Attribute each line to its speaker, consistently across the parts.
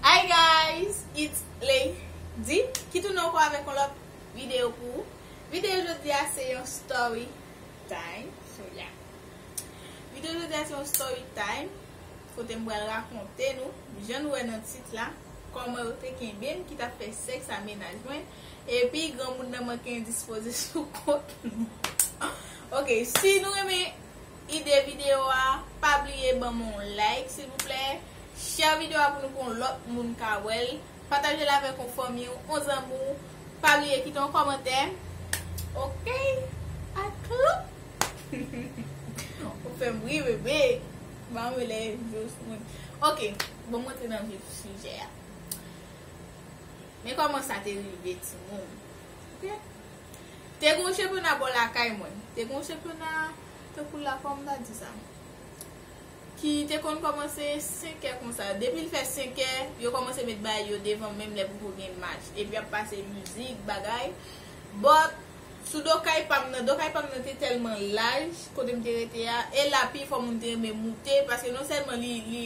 Speaker 1: Hi guys it's Lady ki tounen anko avek yon lot video pou ou Video jodi a se yon story time So yeah Video jodi a se yon story time kote m pral rakonte nou jan nou wè nan tit la koman yo te kenbe m ki tap fè seks a mennaj mwen epi granmoun nan manke endispoze sou kont li Ok si nou renmen ide video a pa bliye banm on like silvouplè share video a pou nou pou on lòt moun ka wèl patajel avèk on fanmi w on zanmi w pa bliye kite on kòmantè ok atlou ou fèm ri bebe banm yon lè jous mwen ok bon m rantre nan vif sijè a men kòman sa te rive timoun ok. Te gon chepena bò lakay mwen. Te gon chepena tankou la kòman m ta di sa ki te konn kòmanse 5 è konsa depi l fè 5 è yo kòmanse met bagay yo devan menm lè poko gen match epi ap pase mizik bagay but sou do kay pa m nan do kay pa m nan te tèlman laj kote m te rete a e la pi fò moun te renmen moute paske non sèlman li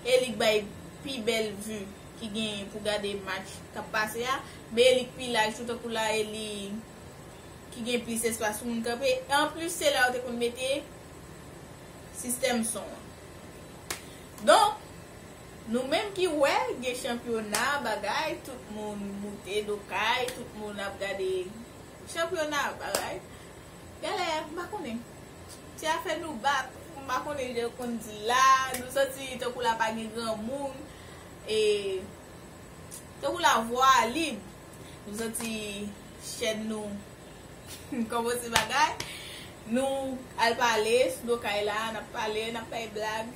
Speaker 1: e li k bay pi bèl vue. ki genyen pou gade match kap pase a, meye li k pi laj tou tankou la e li ki gen plis espas pou moun kanpe e anplis se la yo te konn mete sistèm son an. Donk nou menm ki wè gen chanpyona bagay tout moun moute do kay tout moun ap gade chanpyona bagay genlè m pa konnen se afè nou bak m pa konnen jan yo konn di l la nou santi tankou la pa gen granmoun. e tankou la vwa a lib nou santi chèn nou kòmanse bagay nou al pale sou do kay la nap pale nap bay blag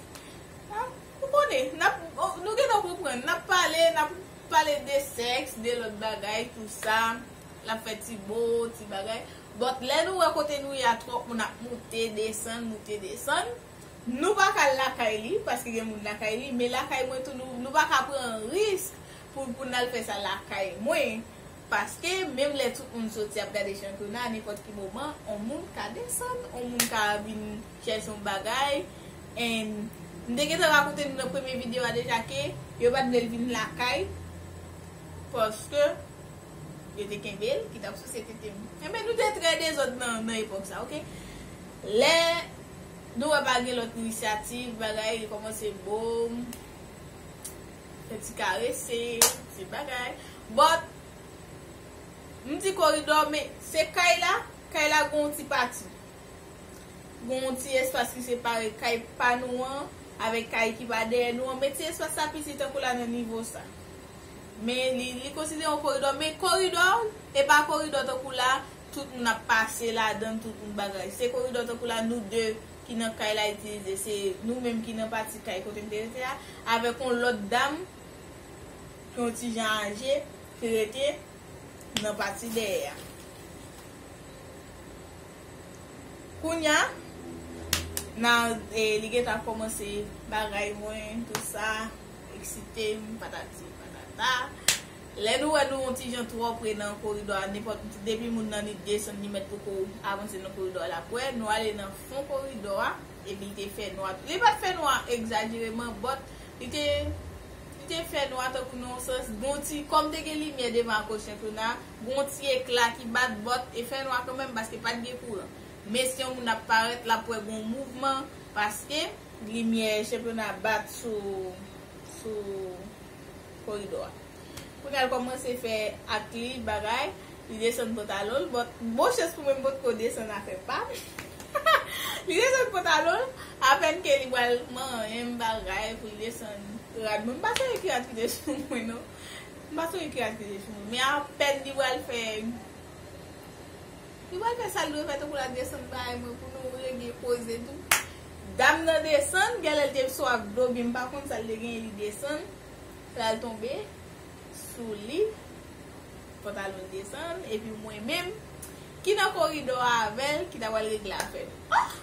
Speaker 1: nap ou konnen nap nou gentan ou konprann nap pale nap pale de sèks de lòt bagay tou sa nap fè ti mo ti bagay but lè nou wè kote nou ye a twòp moun ap moute desann moute desann. Nou pa ka al lakay li, paske gen moun lakay li, men lakay mwen tou nou, nou pa ka pran risk pou, pou n al fè sa lakay mwen, paske menm lè tout moun soti ap gade chanpyona a nenpòt ki moman on moun ka desann, on moun ka vin chèche yon bagay and m te gentan rakonte nou nan premye videyo a deja ke yo pat vle l vin lakay paske yo te kenbe l ki tap souse tete m. Enben nou te trè dezòd nan epòk sa ok. Lè Nou wè pa gen lòt inisyativ bagay li kòmanse boom fè ti karese ti bagay but m di koridò men se kay la kay la gen yon ti pati gen yon ti espas ki separe kay pa nou an avèk kay ki pa dèyè nou an men ti espas sa piti tankou la nan nivo sa men li konsidere yon koridò men koridò e pa koridò tankou la. Tout moun ap pase ladann tout moun bagay. Se koridò tankou la nou 2 ki nan kay la itilize. Se nou menm ki nan pati kay kote m te rete a avèk yon lòt dam ki yon ti jan aje ki rete nan pati dèyè a. Kounya na li gen tan ap kòmanse bagay mwen tout sa, eksite m patati patata. Lè nou wè nou yon ti jan twò pre nan koridò a nenpòt depi moun nan li desann li mèt poko avanse nan koridò a lap wè nou ale nan fon koridò a epi li te fè nwa tou li pat fè nwa egzajereman but li te li te fè nwa tankou nan yon sans gon ti kòm te gen limyè devan akoz chanpyona a gon ti ekla ki bat but te fè nwa kanmenm paske pat gen kouran men si yon moun ap parèt lap wè gon mouvman paske limyè chanpyona a bat sou sou. koridò a. Pou nal kòmanse fè ak li bagay, li desann pantalon l, but bon chans pou mwen m potko desann afè pa m, li desann pantalon l, apèn ke li pral manyen m bagay pou li desann rad mwen, m pa sonje ki rad ki te sou mwen non, m pa sonje ki rad ki te sou mwen, men apèn li pral fè. Li pral fè sal dwe fè tankou lap desann bay mwen pou nou regle koze tou. Dam nan desann, gèlè li te sou ak dlo byen mpa konn sal te genyen li desann, pral tonbe sou li, pantalonl desann epi mwen menm ki nan koridò a avèl ki ta pral regle afè nou. Ohh!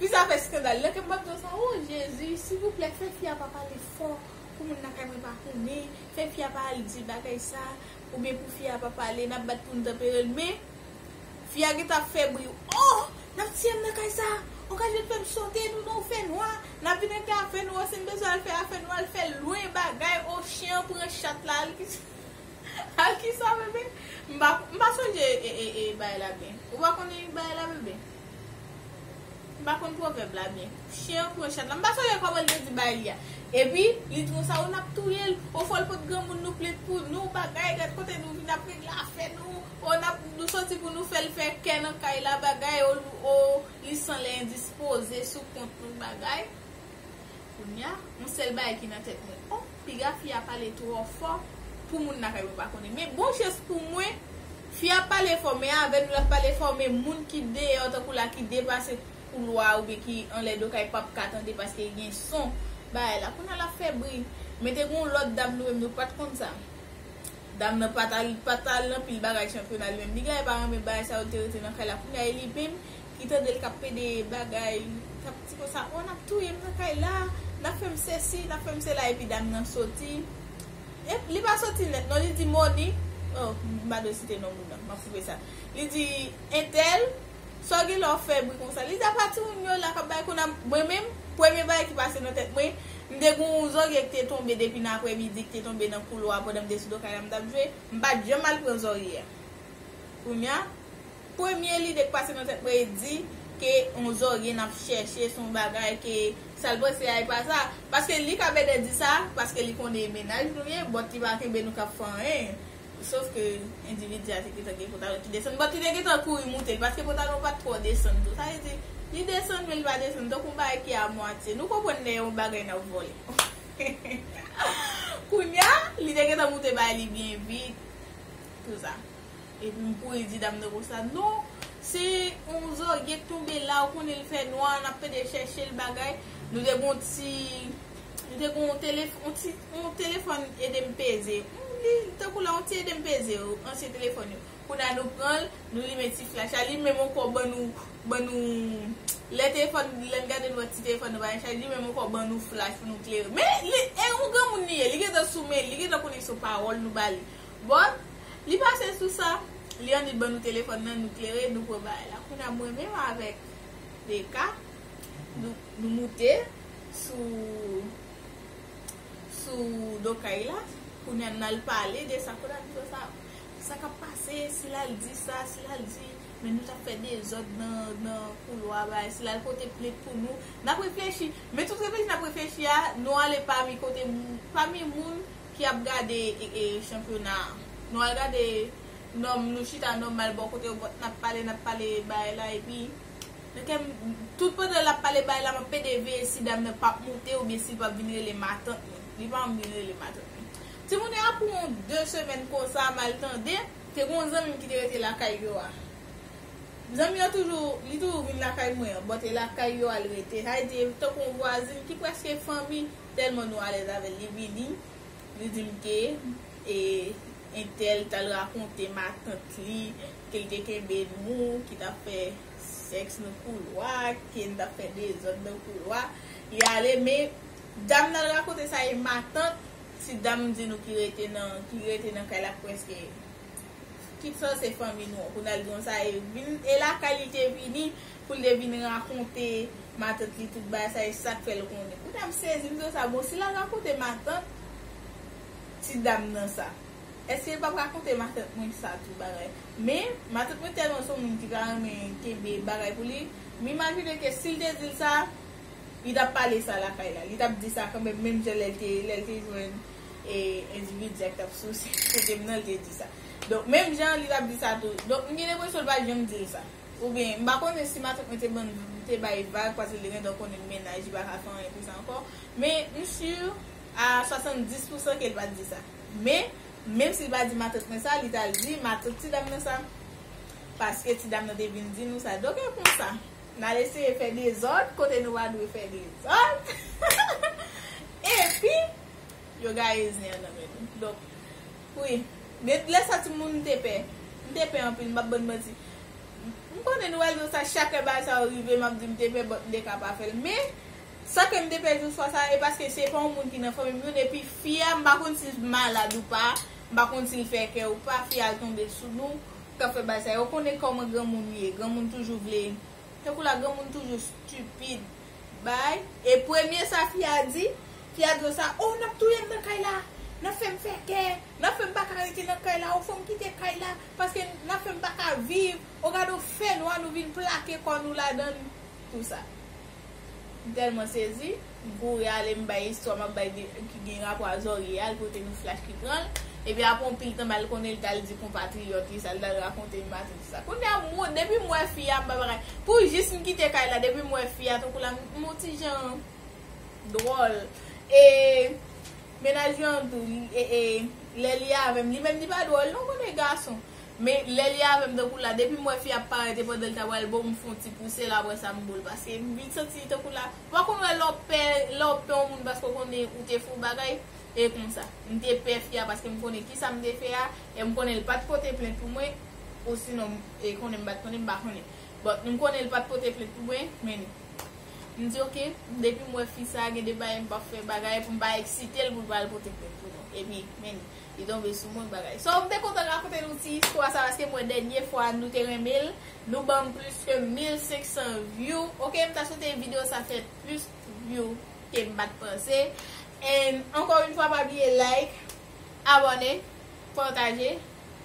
Speaker 1: Fi sa fè skandal nan kèm map di w sa oh Jezi silvouplè fè fi a pa pale fò pou moun lakay mwen pa konnen, fè fi a pa al di bagay sa Ou byen pou fi a pa pale nap bat poun tanperel men fi a gentan ap fè bri ohh nap tiyem nan kay sa ok al vin fèm sote nou nan ou fè nwa nap vin regle afè nou an sim bezwen al fè afè nou al fèl lwen bagay ohh chen an pran chat la al kisa al kisa bebe mpa sonje bay la byen ou pa konnen bagay la bebe. M pa konn pwovèb la byen. Chyen an kouri chat la. M pa sonje kòman l te di bagay li a. Epi, li twou sa, o n ap touye l. O fò l pot granmoun nou plet pou nou, bagay, gad kote nou vin ap regle afè nou. O n ap, nou soti pou nou fè l fè kè nan kay la, bagay, o, li san lè endispoze sou kont nou, bagay. Kounya on sèl bagay ki nan tèt mwen oh piga fi a pale trò fò pou moun lakay mwen pa konnen men bon chans pou mwen fi a pale fò men avè nou lap pale fò men moun ki deyò tankou la ki depase koulwa a oubyen ki anlè do kay pap ka tande paske gen son bagay la kounya lap fè bri men te gon lòt dam nou menm nou pat konn sa dam nan pat al nan pil bagay chanpyona li menm li genlè pa renmen bagay sa yo li te rete nan kay la kounya e li menm ki tandel kap pede bagay kap di konsa oh nap touyem nan kay la nap fèm sesi nap fèm sela epi dam nan soti ep li pa soti nèt non li di moni oh m pa dwe site non moun nan map koupe sa li di entèl sa w gen la w fè bri konsa li di apa timoun yo la kap bay kou nan mwen menm premye bagay ki pase nan tèt mwen m te gen yon zòrye ki te tonbe depi nan aprè midi ki te tonbe nan koulwa pandan m te sou do kay la m tap jwe m pat janm al pran zòrye a kounya Premye lide k pase nan tèt mwen e di ke yon zorye n ap chèche se yon bagay ke sa l panse a e pa sa. Paske li ka bèdè di sa paske li konnen mennaj nou ye bòt li pa kenbe nou k ap fè anyen. Sof ke endividi a te gentan gen pantalon ki desann bòt li te gentan kouri moute l paske pantalon an pa t twò desann tou. Sa vle di li desann men li pa desann tankou yon bagay ki a mwatye. Nou konprann lè yon bagay n ap vòlè. Kounya li te gentan moute bay li byen vit. Tout sa. Epi m kouri di dam nan kon sa, non, se yon zògyen k tonbe la, ou konnen l fè nwa, n ap pede chèche l bagay. Nou te gen yon ti, nou te gen yon tele, yon ti, yon telefòn ede m peze. Li tankou la yon ti ede m peze yo, ansyen telefòn yo. Kounye a nou pran l, nou limen ti flach la, li menm ankò ban nou, ban nou, lè telefòn, lè n gade n wè ti telefòn nan pa gen chaj, li menm ankò ban nou flach pou nou klere. Men, li, e yon granmoun li ye, li gentan sou men li, li gentan konnen se yon pawòl nou ba li. Bon Li pase sou sa Lianne ban nou telefòn nan nou klere nou pran bagay la kounya mwen menm avèk DK nou moute sou sou do kay la kounya nal pale de sa kote nou fè sa sa kap pase si lal di sa si lal di men nou tap fè dezòd nan koulwa bagay si lal pote plent pou nou nap reflechi men tout reflechi nap reflechi a nou ale pami kote moun pami moun ki ap gade chanpyona a nou al gade nòm nou chita nòmal bò kote yo nap pale nap pale bagay la epi nan kèm tout pandan lap pale bagay la map pede veye si dam nan pap moute oubyen sil pap vin rele matant li li pa vin rele matant li timoun yo apou yon 2 semèn konsa mal tande. Te gen yon zanmim ki te rete lakay yo a zanmi an toujou li toujou vin lakay mwen an bò te lakay yo al rete sa vle di tankou yon vwazin ki prèske fanmi. Telman nou alèz avèl li vini li dim ke e entèl tal rakonte matant li kel te kenbe nou ki tap fè sèks nan koulwa ken tap fè dezòd nan koulwa li ale men dam nan rakonte sa e matant ti dam di nou ki rete nan ki rete nan kay la preske tout sa se fanmi nou an kounal di nou sa e vin e lakay li te vini. Pou li te vin rakonte matant li tout bagay sa e sak fèl konnen. Mwen tap sezi m di konsa bon si lap rakonte matant ti dam nan sa eske li pap rakonte matant mwen sa tou bagay men matant mwen tèlman son moun ki ta renmen kenbe bagay pou li m imajine ke sil te dil sa li tap pale sa lakay la li tap di sa kanmèm menm jan lèl te lèl te jwenn e endividi a ki tap souse kotem nan li te di sa donk menm jan li tap di sa tou donk m gen enpresyon li pat janm dil sa. Ou byen, m pa konnen si matant mwen te bann m te bay vag paske li gentan konnen mennaj li pa ka fè anyen pou sa ankò. Men, m sur a 70 pousan ke l pa t di sa. Men, menm si l pa di matant mwen sa, li t al di matant ti dam nan sa. Paske ti dam nan te vin di nou sa. Donk e konsa, n al eseye fè dezòd kote nou pa dwe fè dezòd. Epi, yo gaye zen an nan men nou. Donk. Wi. Gen lè sa ti moun m te pè. M te pè anpil, m pap ban n manti. M konnen nou pral di m sa chak lè bagay sa yo rive m ap di m te pè but m te ka pa fè l. Men, sa ke m te pè jou swa sa e paske se pa yon moun ki nan fanmi m youn epi fi a m pa konn si l t malad ou pa, m pa konn si l fè kè ou pa, fi a al tonbe sou nou k ap fè bagay sa yo. Ou konnen kòman granmoun ye, granmoun toujou vle, tankou la granmoun toujou stupide. bay e premye sa fi a di fi a di yo sa oh nap touyem nan kay la nap fèm fè kè nap fèm paka rete nan kay la oh fòm kite kay la paske nap fèm paka viv oh gadon fènwa nou vin plake kò nou ladann tout sa m tèlman sezi m kouri ale m bay istwa map bay ki gen rapò a zòrye a l pote nou flash ki pranl epi aprè yon pil tan mal konnen li tal di konpatriyòt li sa l tal rakonte yon matin. Kounya mwen depim wè fi a m pa bagay pou jis m kite kay la depim wè fi a tankou la m on ti jan dwòl e mennaj lan tou lè li avèm li menm li pa dwòl non kote gason men lè li avèm tankou la depim wè fi a parèt e pandan l ta pral bo m fon ti pouse l aprè sa m bo l paske m vin santi tankou la ou pa konn wè lè w pè lè w pè on moun paske w konnen ou te fon bagay e konsa m te pè fi a paske m konnen kisa m te fè a M konnen l pat pote plent pou mwen osinon m konnen m pat konnen m pa konnen but m konnen l pat pote plent pou mwen men m di ok depi m wè fi sa gen de bagay m pap fè bagay pou m pa eksite l pou l pa al pote plent pou nou epi men li tonbe sou mwen bagay so m te kontan rakonte nou ti istwa sa paske m wè dènye fwa nou te renmen l nou banm plis ke 1500 view ok m ta swete video sa fè plis view ke m pat panse and ankò yn fwa pa bliye like. Abòne, pataje,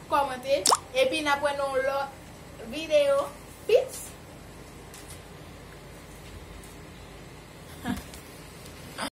Speaker 1: kòmante epi nap wè nan yon lòt video peace.